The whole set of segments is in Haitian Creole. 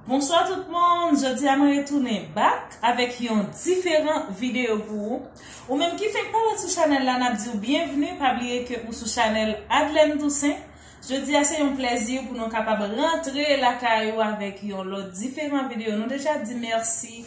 Bonswa tout moun, jodi a mwen retounen bak avèk yon diferan videyo pou ou. Ou menm ki fenk pale sou chanèl la nap diw byenvni, pa bliye ke ou sou chanèl Adlène Toussaint. Jodi a se yon plèzi pou nou kapab rantre lakay ou avèk yon lòt diferan videyo. Nou deja di mèsi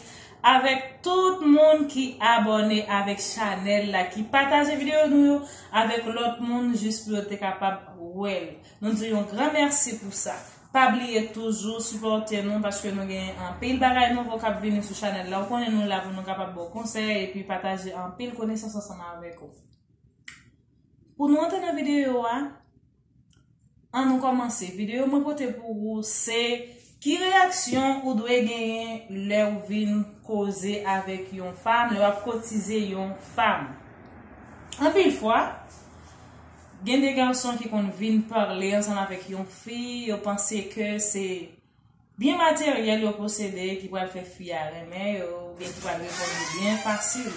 avèk tout moun ki abòne avèk chanèl la, ki pataje videyo nou yo avèk lòt moun jis pou yo te kapab wèl. Nou diw yon gran mèsi pou sa. Pa bliye toujou sipòte nou paske nou gen anpil bagay nouvo kap vini sou chanèl la ou konnen nou la pou nou kapab baw konsèy epi pataje anpil konesans ansanm avèk ou Pou nou antre nan videyo a An nou kòmanse videyo mwen pote pou ou se ki reyaksyon ou dwe genyen lèw vin koze avèk yon fanm lè wap kotize yon fanm Anpil fwa. Gen de gason ki konn vin parle ansanm avèk yon fi, yo panse ke se byen materyèl yo posede ki pral fè fi a renmen yo, ou byen ki pral reponn yo byen fasil.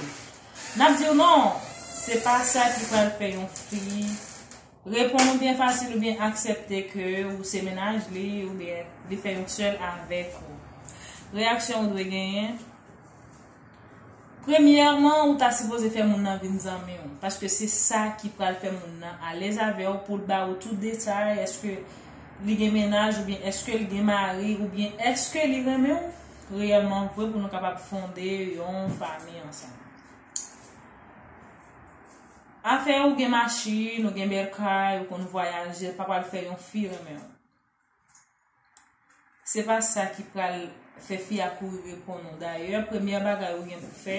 Nap diw non, se pa sa ki pral fè yon fi reponn ou byen fasil ou byen aksepte ke ou se mennaj li ou byen li fè yon sèl avèk ou. Reyaksyon ou dwe genyen. Premyèman ou ta sipoze fè moun nan vin zanmiw paske se sa ki pral fè moun nan alèz avèw poul ba ou tout detay eske Li gen mennaj oubyen eskel gen mari oubyen eske Li renmenw reyèlman vre pou nou kapab fonde yon fanmi ansanm. Afè ou gen machin ou gen bèl kay ou konn vwayaje pa pral fè yon fi renmenw. Se pa sa ki pral fè fi a kouri reponn ou. Dayè, premyè bagay ou gen pou fè,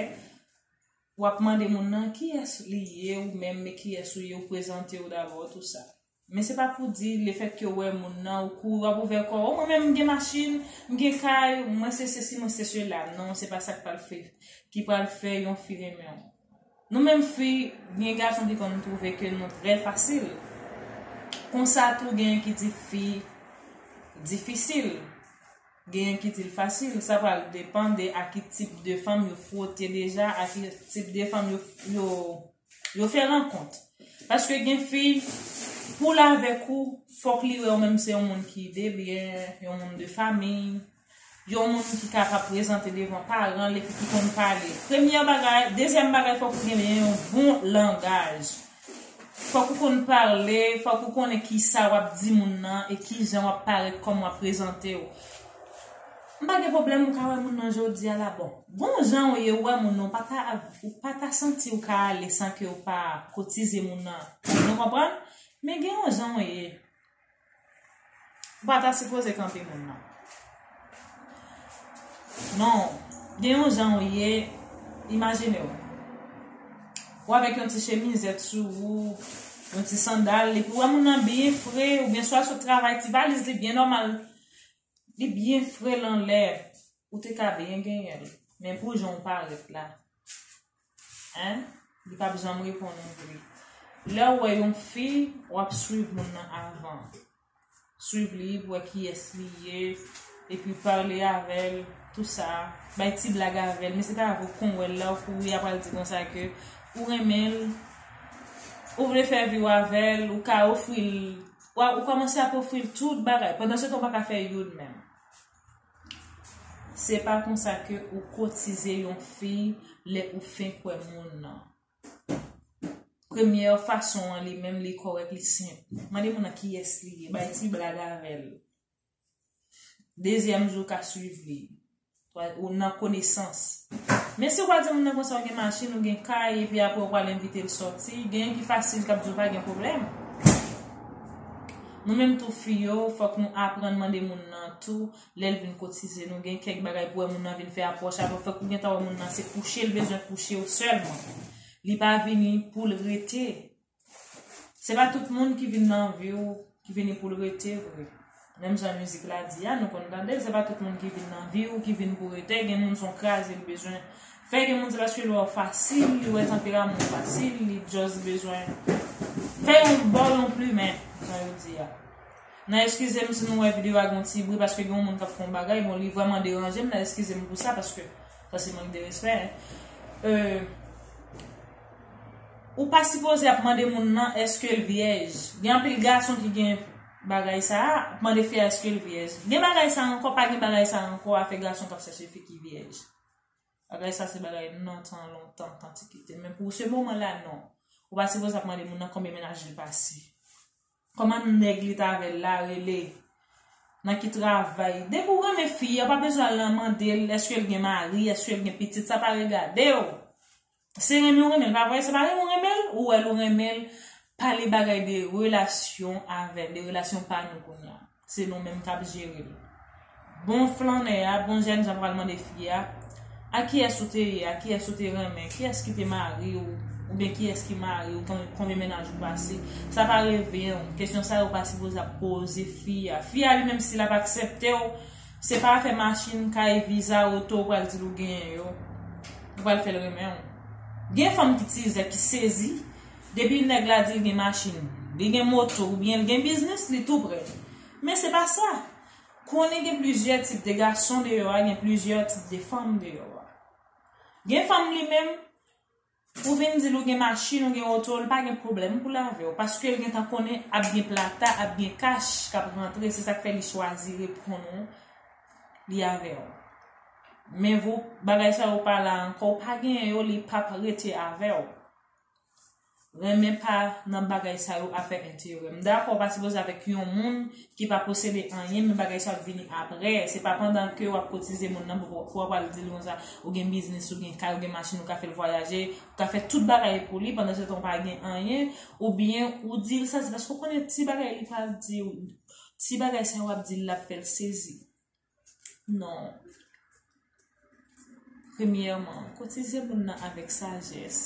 wap mande moun nan kiyès li ye ou menm me kiyès ou ye ou prezante ou dabò tou sa. Men se pa pou di le fèt ke ou wè moun nan ou kouri wap ouvè kò ou mwen menm m gen machin, m gen kay, mwen se sesi mwen se sela. Non se pa sa k pral fè ki pral fè yon fi renmen ou. Nou menm fi, gen gason ki konn twouve ke nou trè fasil. Konsa tou gen ki di fi difisil. Genyen ki di l fasil. Sa pral depan de a ki tip de fanm yo fwote deja, a ki tip de fanm yo fè rankont. Paske gen fi, pou l avèk ou, fòk li wè ou menm se yon moun ki debyen, yon moun de famiy. Yon moun ki ka pa prezante devan paran l epi ki konn pale. Premyè bagay, dezyèm bagay fòk ou genyen yon bon langaj. Fòk ou konn pale, fòk ou konnen ki sa w ap di moun nan e ki jan w ap parèt kòman w ap prezante w. M pa gen pwoblèm ou ka wè moun nan jodi a la bon. Gon jan ou ye ou wè moun nan ou pa ta ou pa ta santi ou ka ale san ke ou pa kotize moun nan. Nou konprann? Men gen yon jan ou ye. Ou pa ta sipoze kanpe moun nan. Non, gen yon jan ou ye, imajine ou. Ou avèk yon ti chemizèt sou ou, yon ti sandal, epi ou wè moun nan byen fre, ou byen swa sot travay, ti valiz li byen nòmal, li byen fre lan lè, ou te ka byen genyen l. Men pou jan ou parèt la. Hein li pap janm reponn ou vre. Lèw wè yon fi wap swiv moun nan avan. Swiv li pou wè kiyès li ye epi pale avèl tou sa, bay ti blag avèl men se pa avèw kon wèl la ou kouri a pral di konsa ke ou renmenl ou vle fè viw avèl ou ka ofril ou kòmanse ap ofril tout bagay pandan se tan ou pa ka fè youn menm. Se pa konsa ke ou kotize yon fiy lè ou fenk wè moun nan. Premyè fason an li menm li kòrèk li senp. Mande moun nan kiyès li ye, bay ti blag avè l. Dezyèm jou ka swiv li. Ou nan konesans. Men si ou pa di moun nan konsa ou gen machin, ou gen kay, epi apre ou pral envite l sòti, genyen ki fasil kap di w pa gen pwoblèm. Nou menm tou fi yo, fòk nou aprann mande moun nan tou lè l vin kotize. Nou gen kèk bagay pou wè moun nan vin fè apwòch avè w, fòk ou gentan wè moun nan se kouche l bezwen kouche w sèlman. Li pa vini pou l rete. Se pa tout moun ki vin nan vi w ki vini pou l rete vre. Menm jan mizik la di a, nou konn tande l, se pa tout moun ki vin nan vi w ki vin pou rete, gen moun s on kraze l bezwen. Fè gen moun se paske lè wap fasil li wè tanperaman ou fasil li just bezwen fè yon baw yon plumen jan yo di a nan eskizem si nou wè video a gen yon ti bri paske gen yon moun kap fè yon bagay bon li vrèman deranjem nan eskizem pou sa paske sa se mank de respè euh ou pa sipoze ap mande moun nan eskel vyèj gen anpil gason ki gen bagay sa ap mande fi a eskel vyèj gen bagay sa ankò pa gen bagay sa ankò afè gason kap chèche fi ki vyèj. Bagay sa se bagay nan tan lontan, antikite. Men pou se moman la non. Ou pa sipoze ap mande moun nan konbyen menaj li pase. Koman nèg li t avè l la rele. Nan ki travay. Depi ou renmen fi a, ou pa bezwen al nan mande l eske l gen mari, eske l gen pitit. Sa pa regade w. Se renmen ou renmen l pa vre, se pa renmen ou renmen l ou wè l ou renmen l pale bagay de relasyon avè l, de relasyon pa nou kounya se nou menm kap jere l. Bon flannè a, bon jènjan pral mande fi a, ak kiyès ou te ye, ak kiyès ou te renmen, kiyès ki te mari w oubyen kiyès ki mari w, konbyen mennaj ou pase, sa pa revyen w, kesyon sa yo pa sipoze ap poze fi a. Fi a li menm si l ap aksepte w Se pa afè machin, kay, viza, oto ou pral dil ou genyen yo ki pral fèl renmenw. Gen fanm ki tizè ki sezi depi nèg la dil gen machin, li gen moto oubyen li gen biznis li tou prè. Men se pa sa. Konnen gen plizyè tip de gason deyò a gen plizyè tip de fanm deyò a. Gen fanm li menm. Ou vin dil ou gen machin ou gen oto li pa gen pwoblèm pou lavew paskel gentan konnen ap gen plata ap gen kach kap rantre se sak fè li chwazi reponn ou li avèw men vou bagay sa yo pa la ankò ou pa genyen yo li pap rete avèw renmen pa nan bagay sa yo afè enterè m dakò ou pa sipoze avèk yon moun ki pa posede anyen men bagay sa ap vini aprè se pa pandan ke wap kotize moun nan pou wap al dil konsa ou gen biznis ou gen kay ou gen machin ou ka fèl vwayaje ou ka fè tout bagay pou li pandan setan ou pa gen anyen oubyen ou dil sa se paske ou konnen ti bagay li pral diw ti bagay sa wap dil lap fèl sezi. Non. Premyèman, kotize moun nan avèk sajès.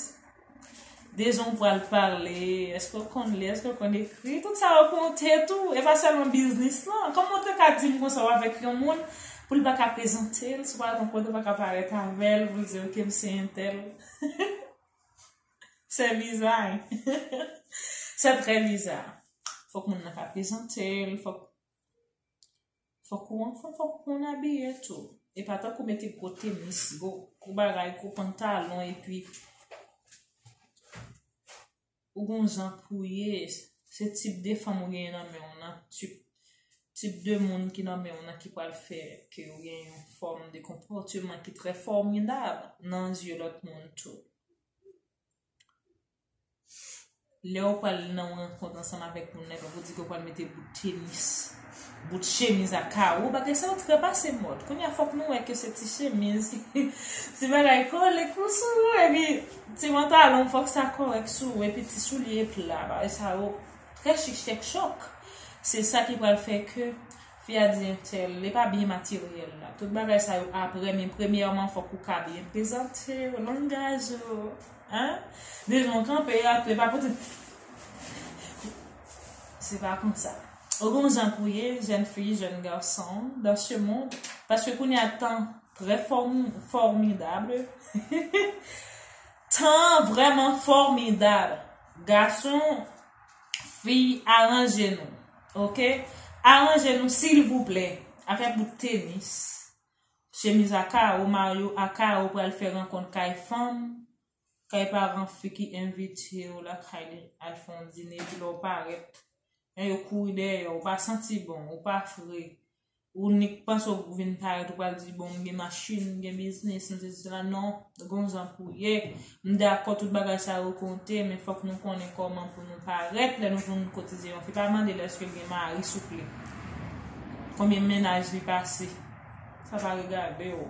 Dejan ou pral pale, eske ou konn li, eske ou konn ekri, tout sa yo konte tou, e pa sèlman biznis lan. Kòman ou te ka di m kon sa ou avèk yon moun pou l pa ka prezante l, si w pa gen kote ou pa ka parèt avè l, pou l di ok m se entèl. Se biza hein. Se trè biza. Fòk moun nan ka prezante l, fòk. Fok ou anfom fok ou konn abiye tou. E pa tankou mete gwo tenis, gwo bagay, gwo pantalon epi ou gon jan pou ye. Se tip de fanm ou genyen nan men ou nan, tip tip de moun ki nan men ou nan ki pral fè ke ou gen yon fòm de konpòteman ki trè fòmidab nan zye lòt moun tou. Lè ou pral nan yon rankont ansanm avèk moun nan epi ou di ke ou pral mete bout tenis, bout chemiz a kawo, bagay sa yo trè pase mòd. Kounye a fòk nou wè ke se ti chemiz, ti bagay kole kou sou ou epi ti pantalon fòk sa kòrèk sou ou epi ti soulye pla. Bagay sa yo trè chich kèk chòk. Se sa ki pral fè ke fi a di entèl li pa byen materyèl la. Tout bagay sa yo aprè men premyèman fòk ou ka byen prezante w, langaj ou. Hein Dil non kanpe a tou epa pote Se pa konsa Ou gon jan pou ye jèn fi jèn garçon dans ce monde paske kounye a tan très formidable Tan vrèman fòmidab Gason Fi aranje nou ok Aranje nou silvouplè Afè bout tenis Chemiz a karo Mario a karo pral fè rankont kay fanm Kay paran fi ki envitew lakay li al fè yon dine epi lèw parèt Jan yo kouri dèyèw ou pa santi bon ou pa fre ou nik panse ou vin parèt ou pral di bon m gen machin m gen biznis m sesi m sela non Gon jan pou ye. M dakò tout bagay sa yo konte men fòk nou konnen kòman pou nou parèt lè nou vin kotize yon fi pa mande l èske l gen mari souple. Konbyen mennaj li pase. Sa pa regade w.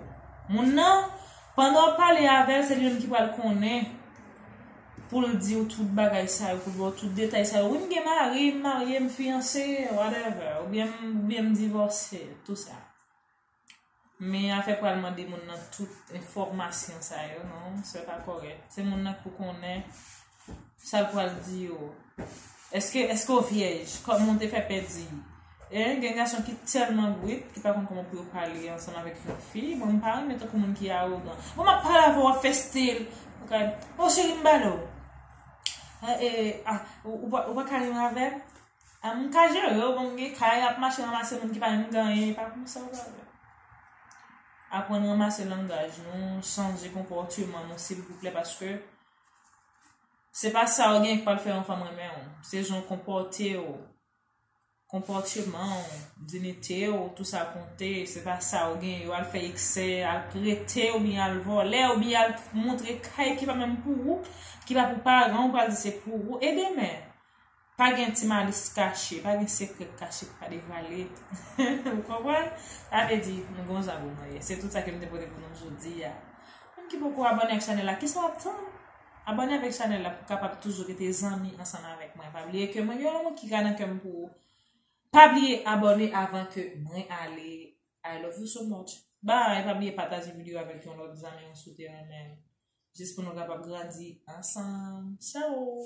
Moun nan pandan w ap pale avè l se li menm ki pral konnen pou l di w tout bagay sa yo pou l ba w tout detay sa yo wi m gen mari m marye m fiyanse whatever oubyen m divòse tout sa. Men afè pral mande moun nan tout enfòmasyon sa yo non, se pa kòrèt. Se moun nan pou konnen sa l pral di yo. Eske eske ou vyèj? Kòman ou te fè pèdi? E gen gason ki tèlman brut ki pa konn kòman pou yo pale ansanm avèk yon fi. Mwen m pa renmen tankou moun ki awogan. Bon m ap pale avè w w ap fè stil. O cheri m ba l ou. Ou pa ka rive avè m? An m ka jere yo bon m gen kay ap mache ranmase moun ki pa menm gen anyen epa konsa w pral wè. Aprann ranmase langaj nou, chanje konpòteman nou silvouplè paske se pa sa w gen ki pral fè yon fanm renmen w, se jan w konpòte w, konpòteman w, dinite w, tou sa konte, se pa sa w gen yo al fè eksè, al prete oubyen al vòlè oubyen al montre kay ki pa menm pou ou, ki pa pou paran w pral di se pou ou e demen? Pa gen ti malis kache, pa gen sekrè k kache k pa devwale. Ou konprann? Sa vle di, nou gen yon jan pou nou ye. Se tout sa ke m te pote pou nou jodi a. Ou menm ki poko abòne ak chanèl la, kisa w ap tann? Abòne avèk chanèl la pou w kapab toujou rete zanmi ansanm avèk mwen. Pa bliye ke mwen gen yon lanmou ki ka nan kè m pou ou. Pa bliye abòne avan ke mwen ale. I love you so much. Bye! Pa bliye pataje videyo a avèk yon lòt zanmi ou si w te renmen l. Jis pou nou kapab grandi ansanm. Ciao!